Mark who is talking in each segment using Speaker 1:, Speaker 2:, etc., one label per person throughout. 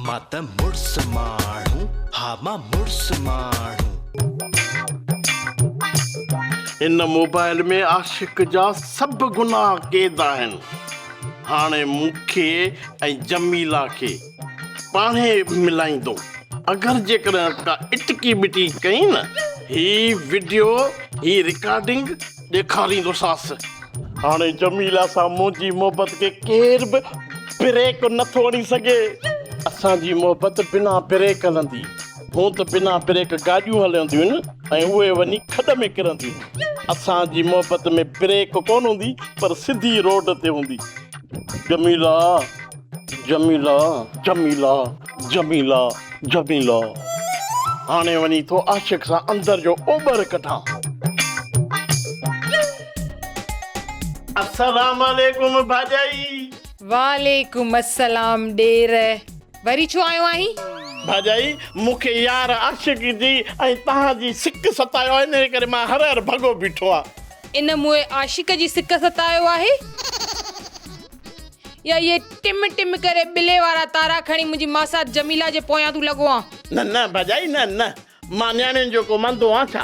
Speaker 1: مان ته مڙس ماڻهو ها مان مڙس ماڻهو.
Speaker 2: هن موبائل ۾ عاشق جا سڀ گناهه قيد آهن هاڻي مون کي ۽ جميلا کي. پاڻهي ملائيندو اگر جيڪڏهن ڪا اٽڪي ٻٽي ڪئي نه هي وڊيو هي رڪارڊنگ ڏيکاريندوساس. هاڻي جميله سان منهنجي محبت کي ڪير به بريڪ نٿو هڻي سگهي. اسان جي محبت بنا بريڪ هلندي. هونء ته بنا بريڪ گاڏيون هلنديون آهن ۽ اهي وڃي کڏ ۾ ڪرنديون. اسان جي محبت ۾ بريڪ ڪونه هوندي پر سڌي روڊ تي هوندي. جميله! جميلا جميلا جميلا جميلا هاڻي وڃي ٿو عاشق سان اندر جو اوٻر ڪڍان. السلام عليڪم ڀاڄائي. وعليڪم
Speaker 3: السلام ڏير وري ڇو آيو آهين. ڀاڄائي
Speaker 2: مون کي يار عاشق جي ۽ تهان جي سڪ ستايو آهي انهي ڪري مان هر هر ڀڳو بيٺو آهيان. ان موئي عاشق
Speaker 3: جي سڪ ستايو آهي. يا اهي ٽم ٽم ڪري ٻلي وارا تارا کڻي منهنجي ماسات جميله جي پويان تون لڳو آن. نه نه ڀاڄائي نه
Speaker 2: نه مان نياڻين جو ڪو مندو آن ڇا؟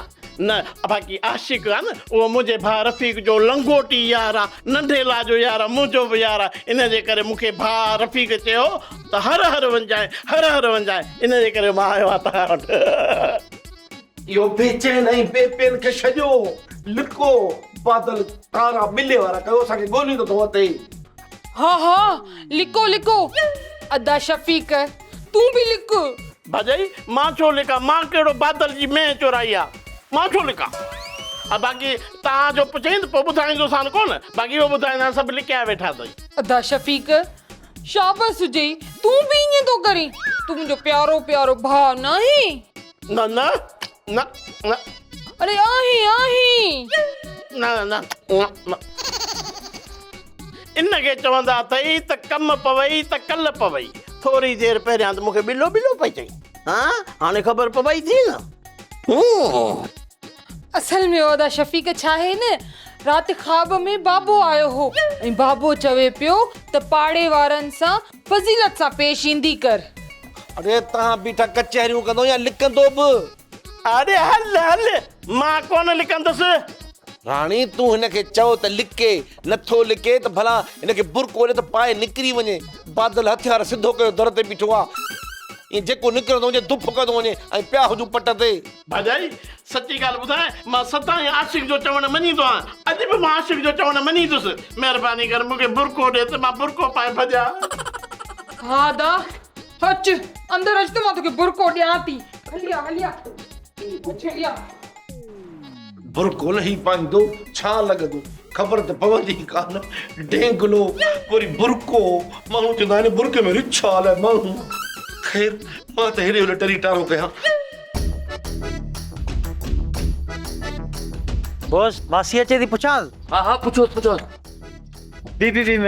Speaker 2: نه باقي عاشق آن اهو منهنجي ڀاء رفيق جو لنگوٽي يار آ ننڍي لا جو يار آ منهنجو به يار آ ان جي ڪري مون کي ڀاء رفيق چيو ته هر هر وڃجانء هر هر وڃجانء ان جي ڪري مان آيو آن توهان وٽ. اهو بي چين
Speaker 4: ۽ بي پين کي ڇڄو، لڪو، بادل ڪارا ٻلي وارا ڪيو، اسان کي ڳوليون ته ٿو اتي. ها ها
Speaker 3: لڪو لڪو. ادا شفيق تون به لڪ. ڀاڄائي
Speaker 2: مان ڇو لڪان، مان ڪهڙو بادل جي مينهن چورائي آ، مان ڇو لڪان. ۽ باقي تان جو پڇين ته پوء ٻڌائيندوسان ڪو نه، باقي اهو ٻڌائيندان سڀ لڪايا ويٺا اٿئي. ادا شفيق
Speaker 3: شابس هجئي تون به ائين ٿو ڪرين، تون منهنجو پيارو پيارو ڀاء ناهين. نه نه
Speaker 2: نه نه اڙي آهين
Speaker 3: آهين نه
Speaker 2: نه نه نه ان کي چوندا اٿئي ته ڪم پوي ته ڪل پوي ٿوري دير پهريان ته مون کي ٻلو ٻلو پئي چئي ها هاڻي خبر پوي ٿي نه هون
Speaker 3: اصل ۾ ادا شفيق ڇا آهي نه رات خواب ۾ بابو آيو هو ۽ بابو چوي پيو ته پاڙي وارن سان فضيلت سان پيش ايندي ڪر. اڙي تان
Speaker 4: بيٺا ڪچهريون ڪندو يا لڪندو به. اڙي
Speaker 2: هل هل مان ڪونه لڪندس. راڻي
Speaker 4: تون هن کي چئو ته لڪي. نه ٿو لڪي ته ڀلا هن کي برقعو ڏي ته پائي نڪري وڃي. بادل هٿيار سڌو ڪيو در تي بيٺو آ. ائين جيڪو نڪرندو وڃي دف ڪندو وڃي ۽ پيا هجون پٽ تي. ڀاڄائي!
Speaker 2: سچي ڳالهه ٻڌاء، مان سدائين عاشق جو چوڻ مڃيندو آهيان. اڄ به مان عاشق جو چوڻ مڃيندس. مهرباني ڪر مون کي برقعو ڏي ته مان برقعو پائي ڀڄان. ها
Speaker 3: ادا! اچ، اندر اچ ته مان توکي برقعو ڏيان ٿي. هليا هليا. هليا.
Speaker 4: برقعو لهي پائيندو ڇا لڳندو خبر ته پوندي ئي ڪا نه. ڊينگلو وري برقعو ماڻهو چوندا آهن برقعي ۾ رڇ آهي الاء ماڻهو. خير مان ته هيڏي هوڏي ٽري ٽارو ڪيان.
Speaker 5: بوس ماسي اچي ٿي پڇانس. ها ها پڇوس پڇوس.
Speaker 4: بي
Speaker 5: بي بي م.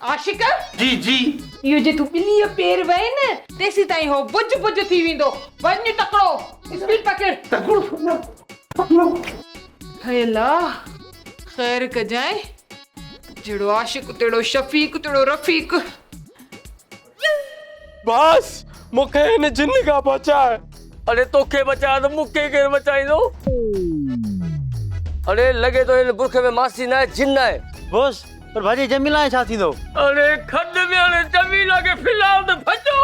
Speaker 4: عاشق!
Speaker 3: جي جي.
Speaker 4: اهو جي تون
Speaker 3: ٻليء پير وئين نه. تيسين تائين هو بج بج ٿي ويندو. وڃ تڪڙو اسپيڊ پڪڙ. تڪڙو سڄڻ تڪڙو. هي الا! خير ڪجانء. جهڙو عاشق تهڙو شفيق تهڙو رفيق.
Speaker 6: باس مون کي هن جن کان بچاء. اڙي توکي بچايان ته مون کي ڪير بچائيندو. اڙي لڳي ٿو هن برکي ۾ ماسي ناهي جن آهي. باس پر
Speaker 5: ڀڄي جميلا ۽ ڇا ٿيندو. اڙي کڏ
Speaker 6: ۾ اڙي جميلا کي ڦلال ته ڀڄو.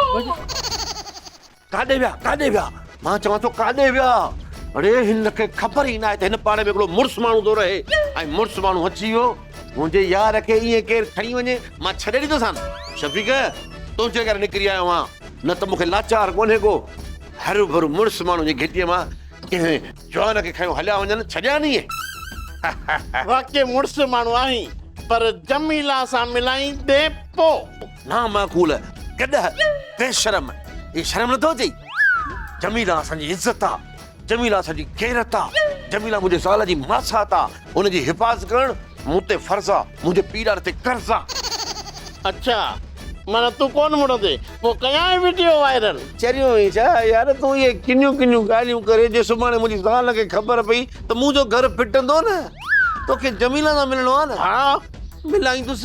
Speaker 4: ڪاڏي ويا ڪاڏي ويا؟ مان چوان ٿو ڪاڏي ويا؟ اڙي هن کي خبر ئي ناهي ته هن پاڙي ۾ هڪڙو مڙس ماڻهو ٿو رهي ۽ مڙس ماڻهو اچي ويو. منهنجي يار کي ائين ڪير کڻي وڃي مان ڇڏي ڏيندوسان. شفيق تنهنجي ڪري نڪري آيو آهيان نه ته مون کي لاچار ڪونهي ڪو. هروڀرو مڙس ماڻهو جي گهٽيء مان ڪنهن جوان کي کنيو هليا وڃن ڇڏيان ائين.
Speaker 2: واقعي مڙس ماڻهو آهين پر جميله سان ملائيندين پوء. نامعقول
Speaker 4: ڪڏهه بيشرم هي شرم نٿو اچي جميلا اسان جي عزت آ جميلا اسان جي غيرت آ جميلا منهنجي زال جي ماسات آ ان جي حفاظت ڪرڻ مون تي فرض آ منهنجي پيء ڏاڏي تي قرض آ اڇا
Speaker 2: معنيٰ تون ڪون مڙندي پو ڪيانء وڊيو وائرل. چريو آهين ڇا
Speaker 4: يار تون اهي ڪنيون ڪنيون ڳالهيون ڪري جي سڀاڻي منهنجي زال کي خبر پئي ته منهنجو گهر ڦٽندو نه توکي جميلا سان ملڻو آهي نه ها ملائيندس.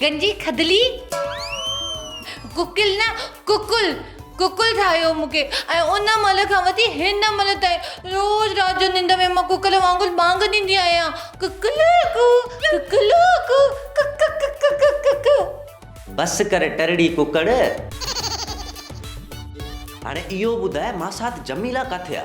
Speaker 5: گنجي
Speaker 7: کدلي گوڪل نه ڪڪل ڪڪل ٺاهيو مون کي ۽ ان مهل کان وٺي هن مهل تائين روز رات جو ننڊ ۾ مان ڪڪل وانگر ٻانگ ڏيندي آهيان ڪڪل ڪو ڪڪل ڪو ڪڪ ڪڪ ڪڪ ڪڪ. بس ڪر ٽرڙي
Speaker 8: ڪڪڙ. هاڻي اهو ٻڌاء ماسات جميلا ڪاٿي آ.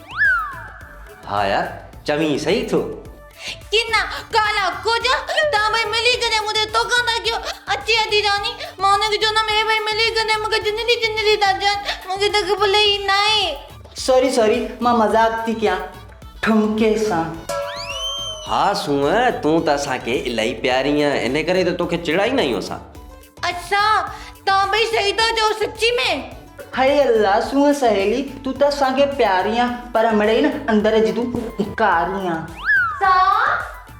Speaker 8: ها يار چوين صحيح ٿو. ڪنا
Speaker 7: ڪالا ڪجا تان ڀئي ملي ڪڏهن مون تي توڪان ٿا ڪيو اچي ادي راني مان انهن کي چوندم هي ڀئي ملي ڪڏهن مون کي جنجلي جنجلي ٿا چون مون کي ته خبر ئي ناهي. سوري سوري
Speaker 5: مان مذاق ٿي ڪيان ٺمڪي سان. ها
Speaker 8: سونهن تون ته اسان کي الاهي پياري آهين انهي ڪري ته توکي چيڙائيندا آهيون اسان. اڇا
Speaker 7: توهان ٻئي سهي ٿا چئو سچي ۾. هئي الله
Speaker 5: سونهن سهيلي تون ته اسان کي پياري آن پر مڙئي نه اندر جي تون ڌڪاري آن. سا.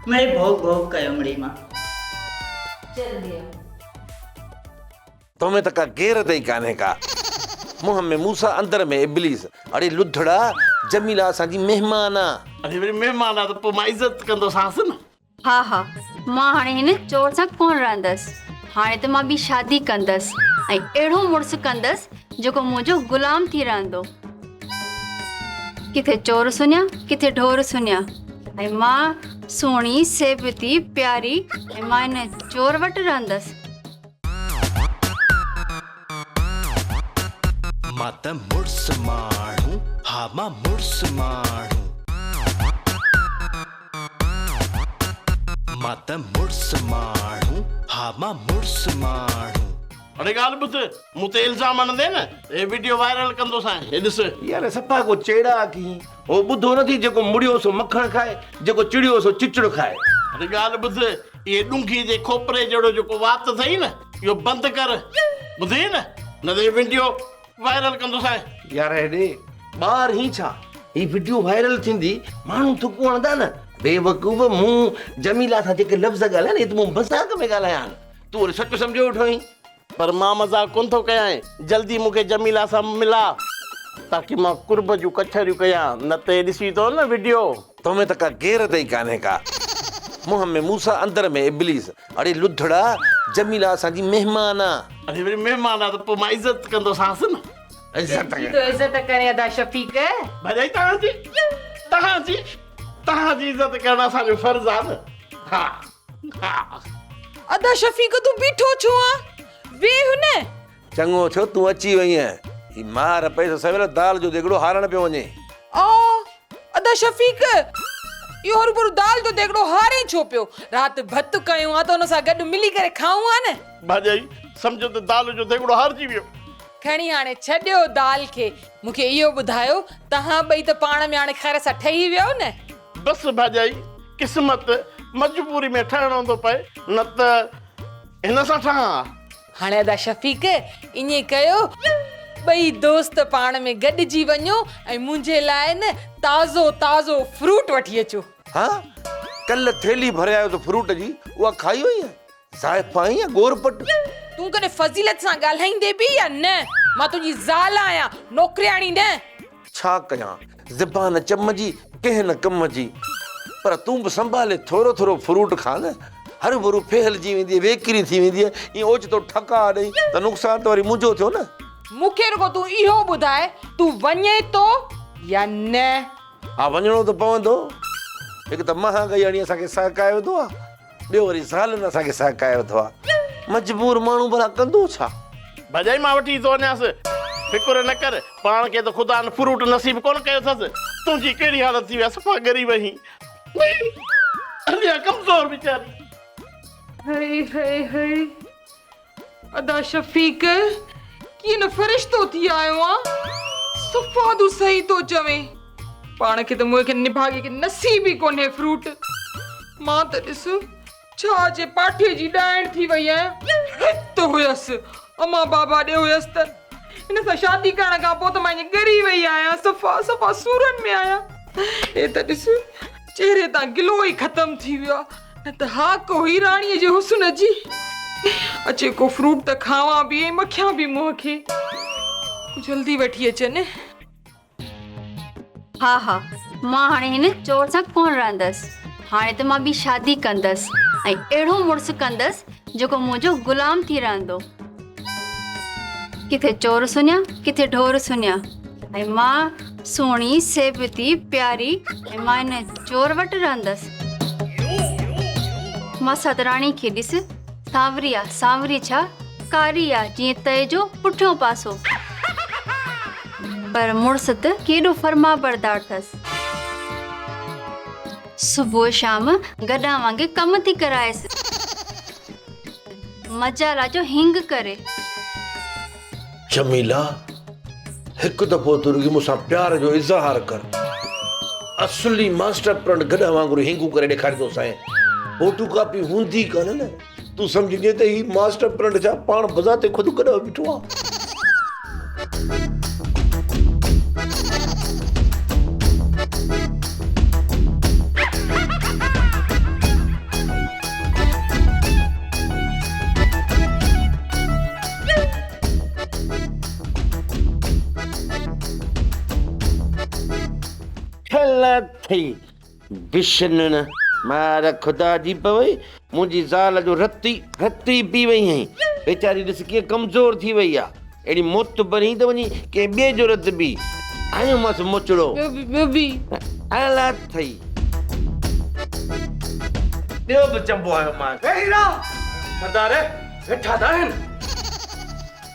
Speaker 7: مڙئي
Speaker 5: ڀوڪ ڀوڪ ڪيو مڙئي مان.
Speaker 7: جلدي
Speaker 4: آ. تو ۾ ته ڪا غيرت ئي ڪانهي ڪا. منهن ۾ موسا اندر ۾ ابليس. اڙي لڌڙا جميلا اسان جي مهمان آ. اڙي وري مهمان آ ته
Speaker 2: پوء مان عزت ڪندوسانس نه. ها ها،
Speaker 9: مان هاڻي هن چور سان ڪونه رهندس. هاڻي ته مان ٻي شادي ڪندس ۽ اهڙو مڙس ڪندس جيڪو منهنجو غلام ٿي رهندو. ڪٿي چور سڃا، ڪٿي ڍور سڃا ۽ مان سهڻي، سيبتي، پياري ۽ مان هن چور وٽ رهندس.
Speaker 1: مان ته مڙس ماڻهو، ها مان مڙس ماڻهو. مان ته مڙس ماڻهو ها مان مڙس ماڻهو. اڙي ڳالهه
Speaker 2: ٻڌ مون تي الزام هڻندين نه هي وڊيو وائرل ڪندوسانء هي ڏس. يار صفا ڪو
Speaker 4: چيڙاڪ هين هو ٻڌو نٿي جيڪو مڙيو سو مکڻ کائي جيڪو چڙيو سو چچڙ کائي. اڙي ڳالهه ٻڌ
Speaker 2: اهي ڏونگهي جي کوپري جهڙو جيڪو وات اٿئي نه اهو بند ڪر ٻڌئي نه نه ته هي وڊيو وائرل ڪندوسانء. يار هيڏي
Speaker 4: ٻاهر هين ڇا؟ هي وڊيو وائرل ٿيندي ماڻهو ٿڪ هڻندا نه. بيوقوف مون جميلا سان جيڪي لفظ ڳالهايا نه اهي ته مون مذاق ۾ ڳالهايا آهن تون وري سچ سمجهيو ويٺو آهين. پر مان
Speaker 2: مذاق ڪونه ٿو ڪيانء جلدي مون کي جميلا سان ملا تاڪي مان قرب جون ڪچهريون ڪيان نه ته هي ڏسي ٿو نه وڊيو. تو ۾ ته ڪا
Speaker 4: غيرت ئي ڪانهي ڪا. منهن ۾ موسيٰ اندر ۾ ابليس. اڙي لڌڙا جميله اسان جي مهمان آ. اڙي وري مهمان آ ته
Speaker 2: پوء مان عزت ڪندوسانس نه. تنهنجي ٿو
Speaker 3: عزت ڪري ادا شفيق. ڀرجائي توهان جي
Speaker 2: توهان جي توهان جي عزت ڪرڻ اسان جو فرض آ نه ها ها. ادا
Speaker 3: شفيق تون بيٺو ڇو آ ويهه نه. چڱو ٿيو
Speaker 4: تون اچي وئينء. هي ماهر پئي سو سويل دال جو ديڳڙو هارڻ پيو وڃي. آء،
Speaker 3: ادا شفيق! اهو هروڀرو دال جو ديڳڙو هارين ڇو پيو؟ رات ڀت ڪيون ها ته ان سان گڏ ملي ڪري کائون ها نه. ڀاڄائي، سمجهه
Speaker 2: ته دال جو ديڳڙو هارجي ويو. کڻي هاڻي
Speaker 3: ڇڏيو دال کي. مون کي اهو ٻڌايو، توهان ٻئي ته پاڻ ۾ هاڻي خير سان ٺهي ويو نه؟ بس ڀاڄائي،
Speaker 2: قسمت، مجبوري ۾ ٺهڻو ٿو پئي، نه ته
Speaker 3: هن سان
Speaker 2: ٺهان ها. هاڻي ادا
Speaker 3: شفيق ائين ڪيو ٻئي دوست پاڻ ۾ گڏجي وڃو ۽ منهنجي لاء نه تازو تازو فروٽ وٺي اچو. ها
Speaker 4: ڪل ٿيلهي ڀري آيو ته فروٽ جي اها کائي وئي يا زائفه آهين يا گور پٽ. تون ڪڏهن
Speaker 3: فضيلت سان ڳالهائيندي به يا نه مان تنهنجي زال آهيان نوڪرياڻي نه. ڇا ڪيان
Speaker 4: زبان چم جي ڪنهن نه ڪم جي. پر تون به سنڀالي ٿورو ٿورو فروٽ کاء نه. هرڀرو ڦهلجي ويندينء ويڪري ٿي ويندينء ائين اوچتو ٺڪاء ڏئين ته نقصان ته وري منهنجو ٿيو نه. مون کي رڳو تون
Speaker 3: اهو ٻڌاء تون وڃين ٿو يا نه. ها وڃڻو
Speaker 4: ته پوندو. هڪ ته مهانگائي هڻي اسان کي سهڪايو وڌو آ. ٻيو وري زالن اسان کي سهڪائي وڌو آ. مجبور ماڻهو ڀلا ڪندو ڇا؟ ڀڄائي مان وٺي
Speaker 2: ٿو وڃانس. فڪر نه ڪر، پاڻ کي ته خدا ان فروٽ نصيب ڪونه ڪيو اٿس. تنهنجي ڪهڙي حالت ٿي وئي آ، صفا ڳري وئين. ٻئي اڃا ڪمزور ويچاري. هئي
Speaker 3: هئي هئي. ادا شفيق ڪيئن نه فرشتو ٿي آيو آ صفادو صحيح ٿو چوي پاڻ کي ته مونکي نڀاڳي کي نصيب ئي ڪونهي فروٽ مان ته ڏس ڇا جي پاٺي جي ڏائڻ ٿي وئي آهيان هت هيس اما بابا ڏي هيس ته ان سان شادي ڪرڻ کان پوء ته مان ائين ڳري وئي آهيان صفا صفا سورن ۾ آهيان اي ته ڏس چهري تان گلو ئي ختم ٿي ويو آ نه ته ها ڪو هئي راڻيء جي حسن جي اچي ڪو فروٽ ته کاوان به ۽ مکيان به منهن کي جلدي وٺي اچن
Speaker 9: ها ها مان هاڻي هن چور سان ڪونه رهندس هاڻي ته مان ٻي شادي ڪندس ۽ اهڙو مڙس ڪندس جيڪو منهنجو غلام ٿي رهندو. ڪٿي چور سڃا، ڪٿي ڍور سڃا. ۽ مان سهڻي، سيبتي، پياري ۽ مان ان چور وٽ رهندس. مان سادراڻي کي ڏس، سانوري آ، سانوري ڇا، ڪاري آ، جيئن تئي جو پٺيون پاسو. پر مڙس ته ڪيڏو فرمانبردار ٿس. صبح شام گڏهه وانگي ڪم ٿي ڪرائيس. مجالا جو هينگ ڪري. جميلا!
Speaker 4: هڪ دفعو تون رڳي مون سان پيار جو اظهار ڪر. اصلي ماسٽر پلان گڏهه وانگر هينگون ڪري ڏيکاريندوسانء. فوٽو ڪاپي هوندي ڪانه نه. تون سمجهجين ته هي ماسٽر پلانٽ ڇا پاڻ بذات خود گڏهه بيٺو آ. بشنڻ مار خدا جي پوي منهنجي زال جو رت ئي رت ئي پي وئي ۽ ويچاري ڏس ڪيئن ڪمزور ٿي وئي آ اهڙي موت برين ته وڃي ڪنهن ٻئي جو رت پي هنيو مس مچڙو ٻيو به الا ٿئي ٻيو به چنبو هنيو مانس اي هيرا سردار ويٺا ته آهن.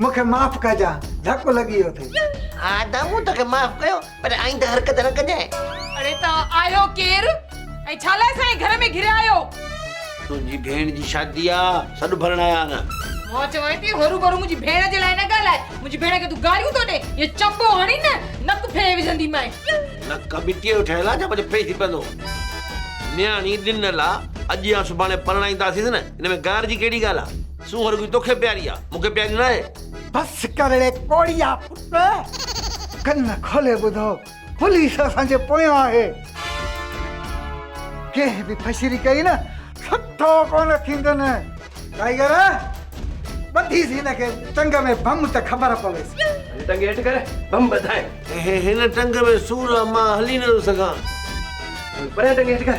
Speaker 10: مون کي معاف ڪجان ڌڪ لڳي ويو ٿي. ها ادا مون
Speaker 8: توکي معاف ڪيو پر آئنده حرڪت نه ڪجانء. اڙي توهان
Speaker 3: آهيو ڪير ۽ ڇا لاء اسان جي گهر ۾ گهريا آهيو. تنهنجي
Speaker 4: ڀيڻ جي شادي آ سڏ ڀرڻ آيا آهن. مان چوانء ٿي
Speaker 3: هرو ڀرو منهنجي ڀيڻ جي لاء نه ڳالهاء منهنجي ڀيڻ کي تون گاريون ٿو ڏين يا چنبو هڻين نه نڪ ڦيري وجهندي مانء. نڪ مٽيء
Speaker 4: جو ٺهيل آ جا ڀلي ڦري ٿي پوندو. نياڻي ڏنل آ اڄ يا سڀاڻي پرڻائينداسينس نه ان ۾ گار جي ڪهڙي ڳالهه آ. سونهن رڳي توکي پياري آ مون کي پياري ناهي. بس ڪر اڙي
Speaker 10: ڪوڙيا پٽ. ڪن کولي ٻڌو پوليس اسان جي پويان آهي. ڪنهن به ڦشري ڪئي نه سٺو ڪونه ٿيندن. ٽائيگر ٻڌيس هن کي ٽنگ ۾ بم ته خبر پويس. هن ٽنگ هيٺ ڪر
Speaker 6: بم ٻڌائين. اهي هن ٽنگ
Speaker 4: ۾
Speaker 6: سور
Speaker 4: آ مان هلي نٿو
Speaker 6: سگهان. پريان
Speaker 4: ٽنگ هيٺ ڪر.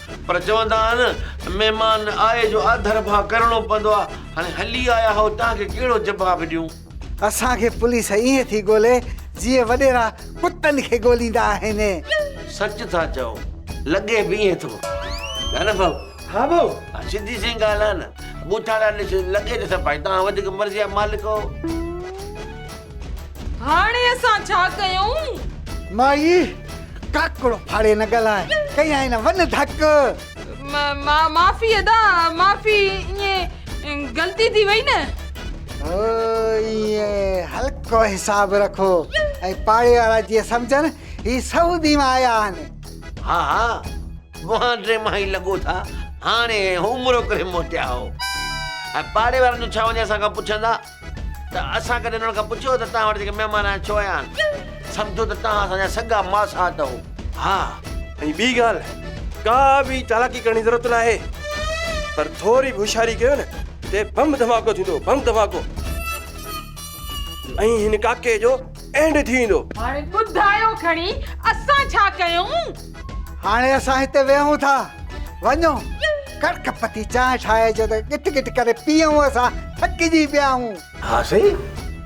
Speaker 4: پر چوندا آهن مهمان آئي جو آڌر ڀاء ڪرڻو پوندو آ هاڻي هلي آيا هئو تان کي ڪهڙو جباب ڏيون. اسان کي
Speaker 10: پوليس ائين ٿي ڳولي جيئن وڏيرا ڪتن کي ڳوليندا آهن. سچ ٿا
Speaker 4: چئو لڳي به ائين ٿو نه نه ڀائو. ها ڀائو ها
Speaker 6: سڌي سئي ڳالهه
Speaker 4: آ نه ٻوٿاڙا ڏس لڳي ته سڀائي توهان وڌيڪ مرضي جا مالڪ هئو.
Speaker 3: هاڻي اسان ڇا ڪيون؟ مائي
Speaker 10: ڪاڪڙو ڦاڙي نه ڳالهاء، ڪيائين نه ون ڌڪ.
Speaker 3: معافي ادا معافي ائين غلطي ٿي وئي نه. او ائين
Speaker 10: هلڪو حساب رکو ۽ پاڙي وارا جيئن سمجهن هي سعودي مان آيا آهن. ها ها
Speaker 4: اوهان ٽي مان ئي لڳو ٿا هاڻي عمرو ڪري موٽيا آهو ۽ پاڙي وارن جو ڇا وڃي اسان کان پڇندا. ته اسان ڪڏهن انهن کان پڇيو ته توهان وٽ جيڪي مهمان آيا ڇو آيا آهن؟ سمجهو ته توهان اسان جا سڳا ماسهات هئو. ها
Speaker 6: ۽ ٻي ڳالهه ڪا به چالاڪي ڪرڻ جي ضرورت ناهي پر ٿوري به هوشياري ڪيو نه ته بم ڌماڪو ٿيندو بم ڌماڪو ۽ هن ڪاڪي جو اينڊ ٿي ويندو. هاڻي ٻڌايو
Speaker 3: کڻي اسان ڇا ڪيون. هاڻي
Speaker 10: اسان هتي ويهون ٿا. وڃو ڪڙڪ پتي چانهه ٺاهجو ته ڳٽ ڳٽ ڪري پيئون اسان ٿڪجي پيا آهون. ها سائين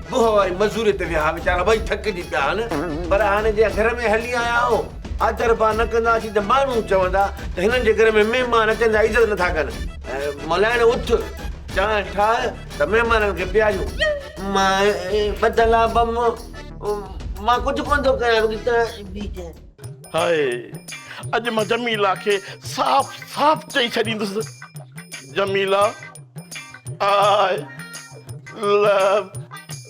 Speaker 4: بوهه واري مزوري تي ويا ها ويچارا ٻئي ٿڪجي پيا آهن پر هاڻي جي گهر ۾ هلي آيا آهو آڌر ڀاء نه ڪنداسين ته ماڻهو چوندا ته هنن جي گهر ۾ مهمان اچن ٿا عزت نٿا ڪن ملائڻ اٿ چانهه ٺاهه. ته مهمانن کي پياريو. مان ٻڌل آهي بم. مان ڪجهه ڪونه ٿو ڪريان رڳو تنهن جي ٻي ڪنهن. هاء
Speaker 2: اڄ مان جميلا کي صاف صاف چئي ڇڏيندس جميلا آء لو.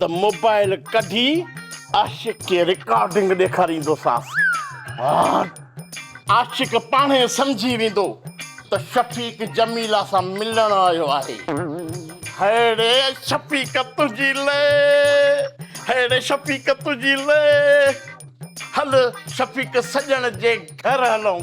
Speaker 2: ته موبائل ڪڍي عاشق کي رڪارڊنگ ڏيکاريندوسانس. عاشق پاڻ ئي سمجهي ويندو ته شفيق جميله سان ملڻ آيو آهي. هيڙي شفيق تنهنجي لئه، هيڙي شفيق تنهنجي لئه. هل شفيق سڄڻ جي گهر هلون.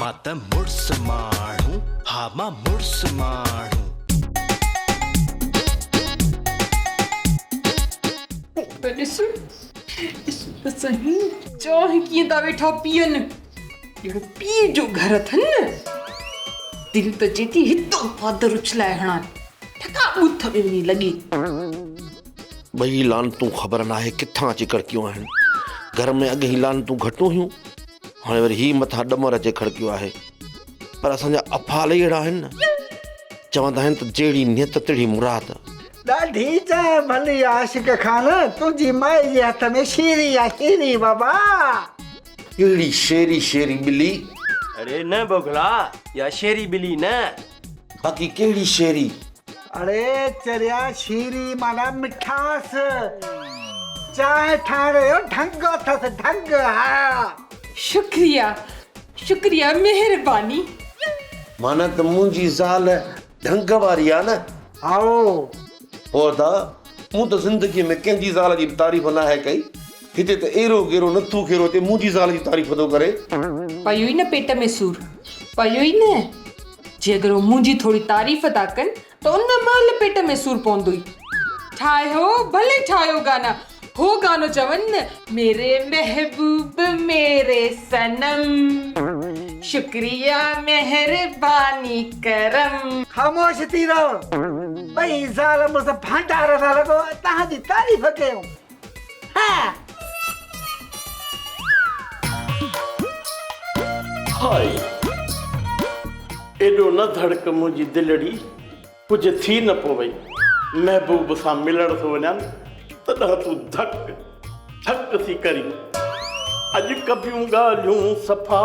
Speaker 1: مان ته مڙس ماڻهو ها مان مڙس ماڻهو.
Speaker 3: ته ڏس ڏس ته سهي. چؤ هي ڪيئن ٿا ويٺا پيئن. ڄڻ پيء جو گهر اٿن نه. دل ته چئي ٿي هتان پادر اڇلائي هڻان. ٺڪا ٻوٿ ۾ وڃي لڳي.
Speaker 4: ٻئي لعنتون خبر ناهي ڪٿان اچي ڪڙڪيون آهن. گهر ۾ اڳ هي لعنتون گهٽون هيون، هاڻي وري هي مٿان ڏمر اچي کڙڪيو آهي. پر اسان جا افعال ئي اهڙا آهن نه. چوندا آهن ته جهڙي نيت تهڙي مراد. ڏاڍي
Speaker 10: چانهه ڀلي عاشق خان تنهنجي مائي جي هٿ ۾ شيري آ شيري بابا.
Speaker 4: ڪهڙي شيري شيري ٻلي. اڙي نه
Speaker 6: بگلا يا شيري ٻلي نه. باقي
Speaker 4: ڪهڙي شيري؟ اڙي
Speaker 10: چريا شيري معنيٰ مٺاس. چانهه ٺاهڻ جو ڍنگ اٿس ڍنگ ها. شڪريا
Speaker 3: شڪريا مهرباني. معنيٰ
Speaker 4: ته منهنجي زال ڍنگ واري آ نه. هائو.
Speaker 10: پوء ادا
Speaker 4: مون ته زندگي ۾ ڪنهن جي زال جي به تعريف ناهي ڪئي. هتي ته ايرو گيرو نٿو کيرو هتي منهنجي زال جي تعريف ٿو
Speaker 3: ڪري. پيوئي نه پيٽ
Speaker 4: ۾
Speaker 3: سور پيوئي
Speaker 4: نه
Speaker 3: جي اگر هو منهنجي ٿوري تعريف ٿا ڪن ته ان مهل پيٽ ۾ سور پوندوئي. ٺاهيو ڀلي ٺاهيو گانا هو گانو چون نه ميري محبوب ميري صنم شڪريا مهرباني ڪرم. خاموش ٿي
Speaker 10: رهو ٻئي زال مڙس ڀانڊار ٿا لڳو تهان جي تعريف ڪيون.
Speaker 2: ايڏو نه ڌڙڪ منهنجي دلڙي، ڪجهه ٿي نه پوي، محبوب سان ملڻ ٿو وڃان، تڏهن تون ڌڪ ڌڪ ٿي ڪرين. اڄ ڪبيون ڳالهيون صفا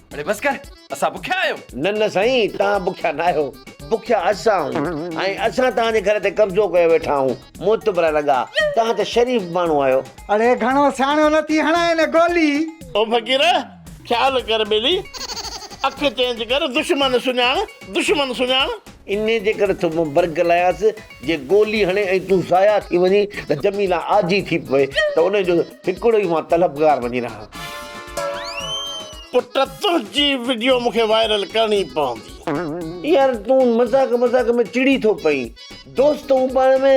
Speaker 4: اڙي بس ڪر
Speaker 6: اسان بکيا آهيون. نه نه سائين
Speaker 4: توهان بکيا ناهيو بکيا اسان آهيون ۽ اسان توهان جي گهر تي قبضو ڪيو ويٺا آهيون معتبره لڳا توهان ته شريف ماڻهو آهيو. اڙي گهڻو سياڻو
Speaker 10: نه ٿي هڻائين گولي. او فقير
Speaker 2: خيال ڪر ٻيلي اک چينج ڪر دشمن سڃاڻ دشمن سڃاڻ. انهي جي ڪري
Speaker 4: ٿو مون برگلايانس. جي گولي هڻي ۽ تون ضايع ٿي وڃين ته جميله آجي ٿي پوي ته ان جو هڪڙو ئي مان طلبگار وڃي رهان. پٽ
Speaker 2: تنهنجي وڊيو مون کي وائرل ڪرڻي پوندي. يار تون
Speaker 4: مذاق مذاق ۾ چڙي ٿو پئين دوست هون پاڻ ۾.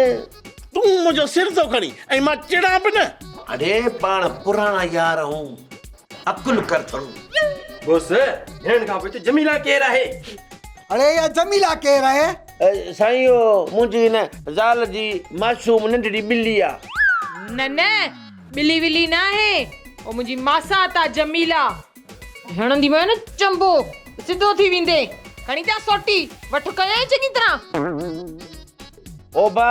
Speaker 4: تون منهنجو
Speaker 2: سر ٿو کڻين ۽ مان چڙان به نه. اڙي پاڻ
Speaker 4: پراڻا يار آهون عقل ڪر ٿورو. بوس
Speaker 6: هيڻ کان پوء ته جميله ڪير آهي. اڙي اها
Speaker 10: جميله ڪير آهي. سائين اهو
Speaker 4: منهنجي هن زال جي معصوم ننڍڙي ٻلي آ. نه نه
Speaker 3: ٻلي ولي ناهي اهو منهنجي ماسات آ جميلا. هڻنديمانء نه چنبو ته سڌو ٿي ويندين. کڻي جا سوٽي وٺ ڪيائين چڱي طرح. اوبا!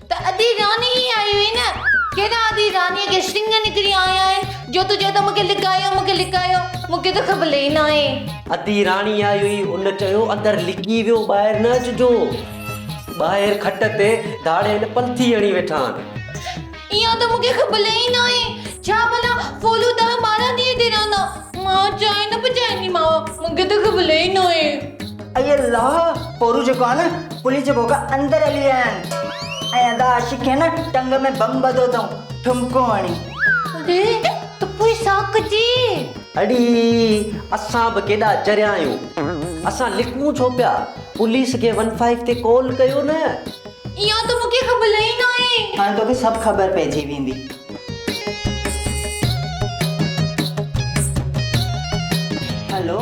Speaker 7: ته ادي راني ئي آئي هئي نه. ڪيڏا ادي رانيء کي سڱ نڪري آيا آهن جو تون چوين ٿو مون کي لڪايو، مون کي لڪايو. مون کي ته خبل ئي ناهي. ادي راني
Speaker 8: آئي هئي. هن چيو، اندر لڪي ويهو ٻاهر نه اچجو. ٻاهر کٽ تي ڌاڙيل پلٿي هڻي ويٺا آهن. اها ته مون کي خبل
Speaker 7: ئي ناهي. ڇا ڀلا ڦولو ڏهه ٻارهن ڏينهن هتي رهندا. مان چانهه نه پچائينديمانء. مون کي ته خبل ئي ناهي. اي الله
Speaker 5: پورو جيڪو آهي نه پلي جي ڀوڳ اندر هلي ويا آهن ۽ ادا عاشق کي نه ٽنگ ۾ بم ٻڌو اٿئون ٺمڪو هڻي. اڙي
Speaker 7: ته پوء سا ڪجي. اڙي
Speaker 8: اسان به ڪيڏا چريا آهيون اسان لڪون ڇو پيا پوليس کي ون فائيو تي ڪول ڪيو نه. اها ته مون
Speaker 7: کي خبل ئي ناهي. هاڻي توکي سڀ خبر
Speaker 5: پئجي ويندي. هلو.